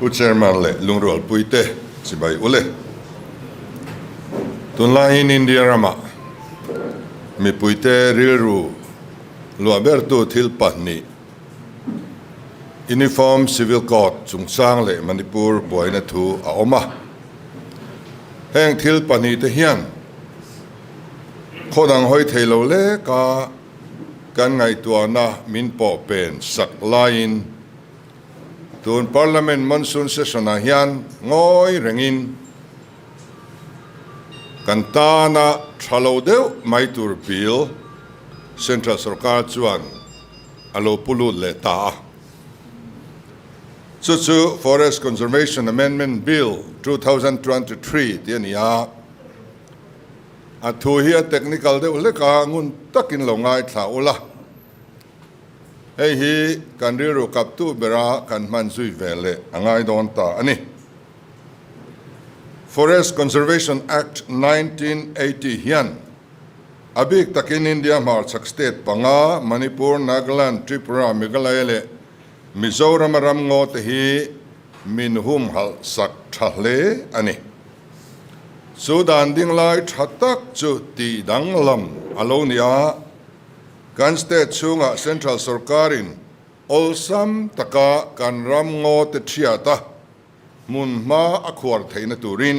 U Chairman leh Lungrualpuite, Chibai ule. Tunlaiin India ramah mipuite rilru luah bertu thil pahnih Uniform Civil Code chungchang leh Manipur buaina thu a awm a. Heng thil pahnihte hian khawnang hawi thei lo leka, Kan ngaihtuahna min pawh pen sak laiin tun Parliament Monsoon Session-ah hian ngawi rengin kan tana tha lo deuh mai tur bil Central Sorkar chuan a lo pu lut leh ta a. Chu chu Forest Conservation Amendment Bill two thousand twenty three tih a ni a. A thu hi a technical deuh hlek a, ngun takin lo ngaithla ula, hei hi kan rilru kaptu bera kan hman zui ve leh a ngai dawn ta a ni. Forest Conservation Act nineteen eighty hian a bik takin India hmarchhak state panga Manipur, Nagaland, Tripura, Meghalaya leh Mizoram-a ramngaw te hi Min humhalh sak tha hle a ni. Chu dan ding lai tha tak chu tih danglam a lo ni a, kan state chhungah central sorkarin awlsam taka kan ram ngaw te thiata hmunhma a khuar theihna turin,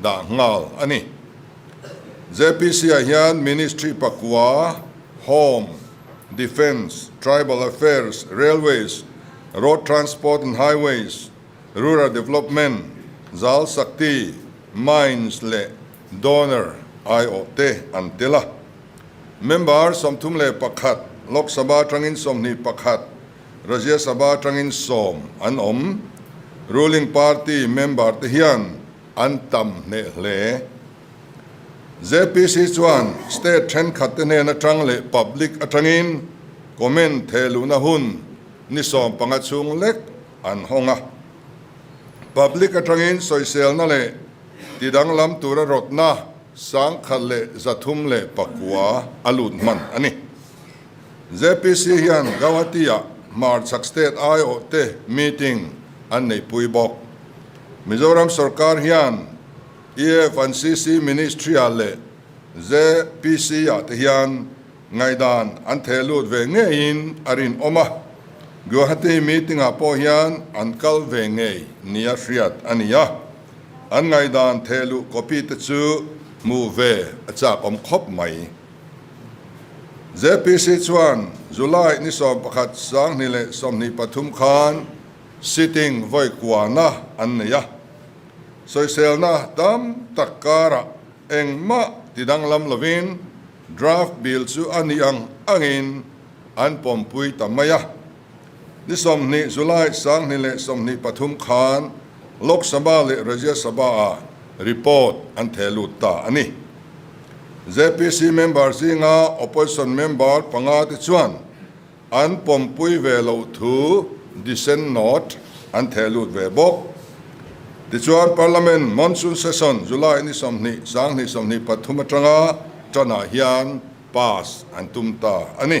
dah nghal a ni. JPC-ah hian Ministry pakua, Home, Defence, Tribal Affairs, Railways, Road Transport and Highways, Rural Development, Jal Sakti, Mines leh Donor, IO, te an tel a. Member sawmthum leh pakhat, Lok Sabha atangin sawmhnih pakhat, Rajya Sabha atangin sawm an awm Ruling Party member te hian an tam hneh hle. JPC chuan state thenkhat te hnen atang leh public atangin comment theh luhna hun ni sawm panga chhung lek an hawng a. Public atangin sawiselna leh ti danglam tura rawtna sangkhat leh zathum leh pakua a lut hman a ni. JPC hian Guwahati-a hmarchhak state aiawhte meeting an neihpui bawk. Mizoram sorkar hian EAF an CC ministry-ah leh JPC-ah te hian ngaihdan an thehlut ve ngeiin a rinawm a, Guwahati meeting-ah pawh hian an kal ve ngei ni a hriat a ni a, an ngaihdan thehluh copy te chu hmuh ve a chakawm khawp mai. JPC chuan July ni sawm pakhat sanghnih leh sawmhnih pathum khan sitting vawi kuahna an nei a. Sawiselna tam tak karah engmah ti danglam lovin draft bill chu a nih ang angin an pawmpui ta mai a. Ni sawmhnih, July, Sanghnih leh sawmhnih pathum khan Lok Sabha leh Rajya Sabha-ah report an theh lut ta a ni. JPC member zinga opposition member panga te chuan an pawmpui ve loh thu dissent note an theh lut ve bawk. Tichuan, Parliament monsoon session July ni sawmhnih, Sanghnih sawmhnih pathum atanga tan-ah hian pass an tum ta a ni.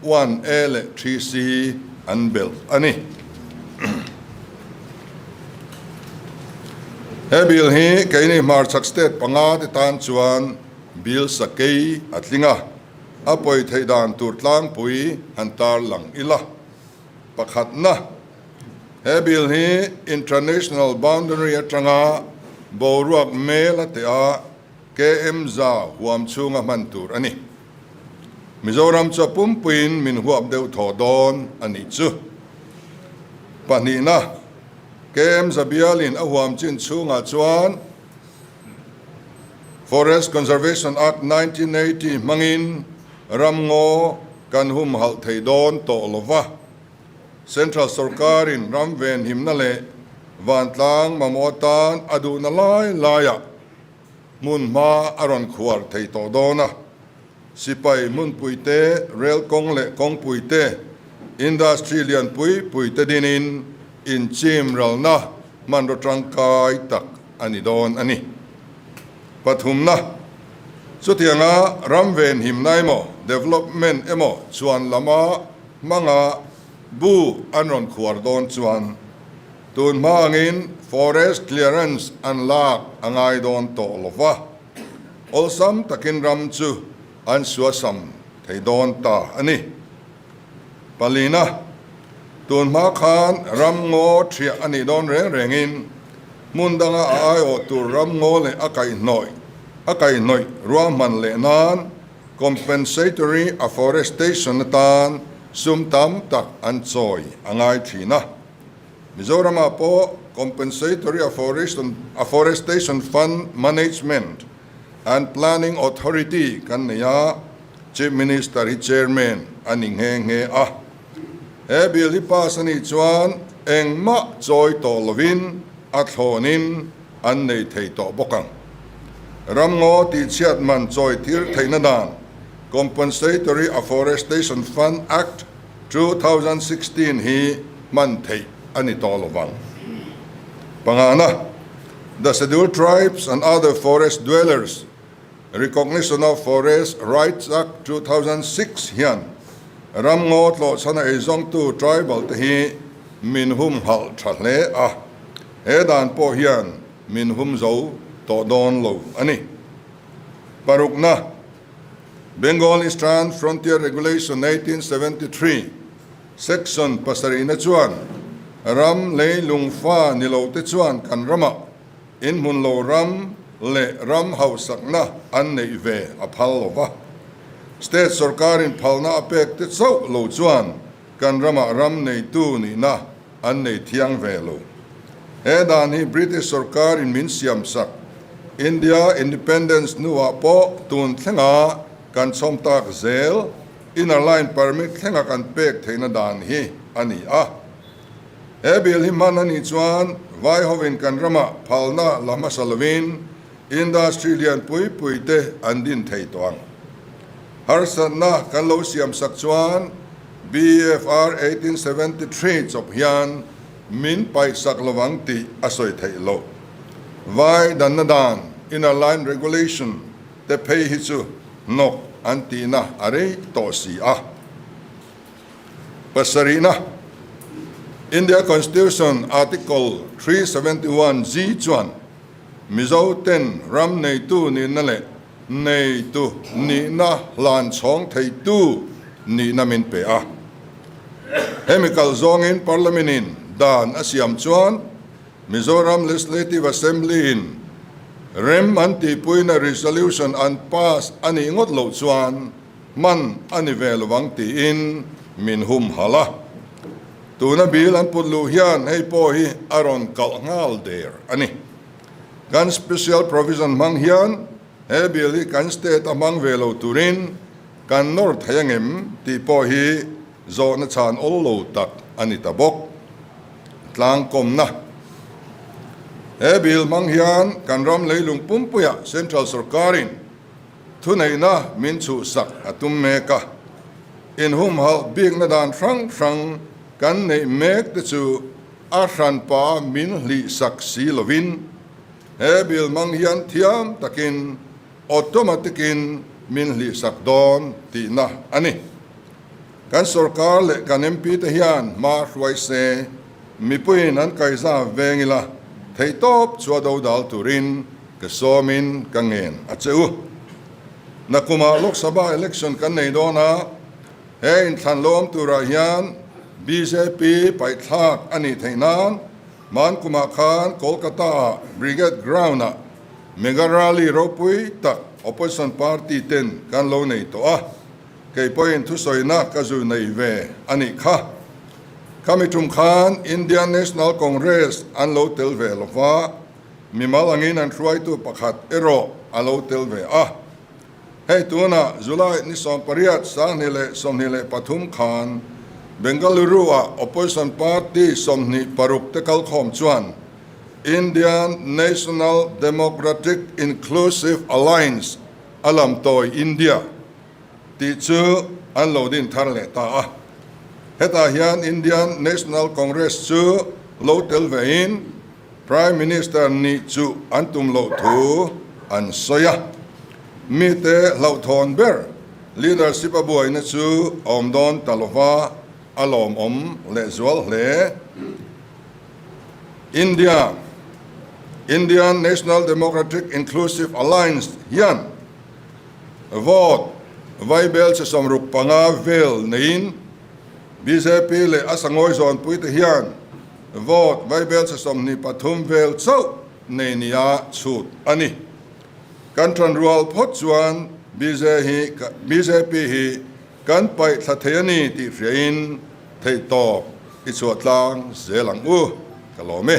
One A leh Three C an belt a ni. He Bill hi keini hmarchhak state panga te tan chuan Bill sakei a tling a, a pawi theih dan tur tlangpui han tar lang ila. Pakhatna, he Bill hi intranational boundary atanga boruak mel a tea km za huam chhunga hman tur a ni. Mizoram chu a pumpuiin min huap deuh thawh dawn a nih chu. Pahnihna, KM Zabialin a huam chin chhungah chuan Forest Conservation Act nineteen eighty hmangin ramngaw kan humhalh thei dawn tawh lo va, Central Sorkarin ramvenhimna leh vantlang mamawh atan a duhna lai laiah Hmunhma a rawn khuar thei tawh dawn a, sipai hmunpui te, rail kawng leh kawngpui te, industry lian pui pui te dinin inchim ralna hmanraw tangkai tak a ni dawn a ni. Pathumna, chutianga ram venhimna emaw, development emaw chuan lama hmanga bu an rawn khuar dawn chuan Tun hma angin forest clearance an lak a ngai dawn tawh lo va, awlsam takin ram chu an suasam thei dawn ta a ni. Palina, tun hma khan ram ngaw thiah a nih dawn reng rengin hmun danga a aiawh tur ram ngaw leh a kaih hnawih a kaih hnawih ruahman leh nan compensatory afforestation atan sum tam tak an chawi a ngai thin a. Mizoramah pawh Compensatory Afforestation Fund Management and Planning Authority kan nei a, Chief Minister hi Chairman a ni nghe nghe a. He Bill hi pass a nih chuan engmah chawi tawh lovin a thlawnin an nei thei tawh bawk ang. Ramngaw Tihchhiat Man Chawi Thir Theihna Dan, Compensatory Afforestation Fund Act, Two thousand sixteen hi hman theih a ni tawh lovang. Pangnahna, The Scheduled Tribes and Other Forest Dwellers Recognition of Forest Rights Act two thousand six hian ramngaw tlawhchhan a ei zawngtu tribal te hi min hum nghalh tha hle a, he dan pawh hian min hum zo tawh dawn lo a ni. Parukna. Bengal Eastern Frontier Regulation nineteen seventy three Section pasarihna chuan ram lei lungfa ni lo te chuan kan ramah inhmun lo ram leh ram hausakna an neih ve a phal lo va. State sawrkarin phalna a pek te chauh lo chuan kan ramah ram neitu nihna An nei thiang ve lo. He dan hi British sorkar in min siam sak India independence hnuah pawh tun thlenga kan chhawm tak zel inner line permit thlenga kan pek theihna dan hi a ni a. He Bill hi hman a nih chuan vai ho in kan rama phalna la hmasa lovin industry lian pui pui te an din thei tawh ang. Harsatna kan lo siam sak chuan BFR eighteen seventy three chawp hian min paihsak lo ang tih a sawi theih loh. Vai danna dan, inner line regulation, te phei hi chu hnawk an tihna a rei tawh si a. Pasarihna, India Constitution Article three seventy one G chuan Mizo ten ram neitu nihna leh neitu nihna hlan chhawng theitu nihna min pe a. Hemi kal zawngin Parliament in dan a siam chuan Mizoram Legislative Assembly in rem an tihpuina resolution an pass a nih ngawt loh chuan, Man a ni ve lovang tiin min hum halh a. Tuna bil an put luh hian hei pawh hi a rawn kalh nghal der a ni. Kan Special Provision hmang hian he bil hi kan State a hmang ve lo turin kan nawr theih ang em tih pawh hi zawhna chhan awl lo tak a ni ta bawk. Tlangkawmna, He bil hmang hian kan ram leilung pumpuiah Central Sorkarin, Thuneihna min chuhsak a tum mek a, inhum hauh bikna dan hrang hrang kan neih mek te chu a hranpa min hlihsak si lovin, he Bill hmang hian thiam takin automatic in min hlihsak dawn tihna a ni. Kan sorkar leh kan MP te hian hma hruai se, mipuiin an kaihza veng ila, theihtawp chhuah dodal turin, Ka sawmin ka ngen a che u. Na kumah Lok Sabha election kan nei dawn a, he inthlanthlawm turah hian bjp paihthlak a nih theih nan hman kumah khan Kolkata ah Brigade Ground ah mega rally ropui tak opposition party ten kan lo nei tawh a, kei pawhin thusawina ka zu nei ve a nih kha. Khami ṭum khan Indian National Congress an lo tel ve lo va. Mimal angin an hruaitu pakhat erawh a lo tel ve a. Hei tunah July ni sawm pariat, Sangni leh sawmhnih leh pathum khan Bengaluru-ah Opposition Party sawmhnih paruk te kal khawm chuan Indian National Democratic Inclusive Alliance a lam tawi India, tih chu an lo din thar leh ta a. Hetah hian Indian National Congress chu lo tel vein Prime Minister nih chu an tum loh thu an sawi a. Mite hlauhthawn ber leadership a buaina chu a awm dawn ta lova, a lawmawm leh zual hle. India Indian National Democratic Inclusive Alliance hian. Vote, Vaibel chi sawm ruk panga vel neiin bjp leh a sangawi zawnpuite hian vote Vaibel chi sawm hnih pathum vel chauh nei nia chhut a ni. Kan tan rual phawt chuan bjp hi kan paih thla thei a ni tih hriain theih tawp i chhuahtlang zel ang u ka lawm e.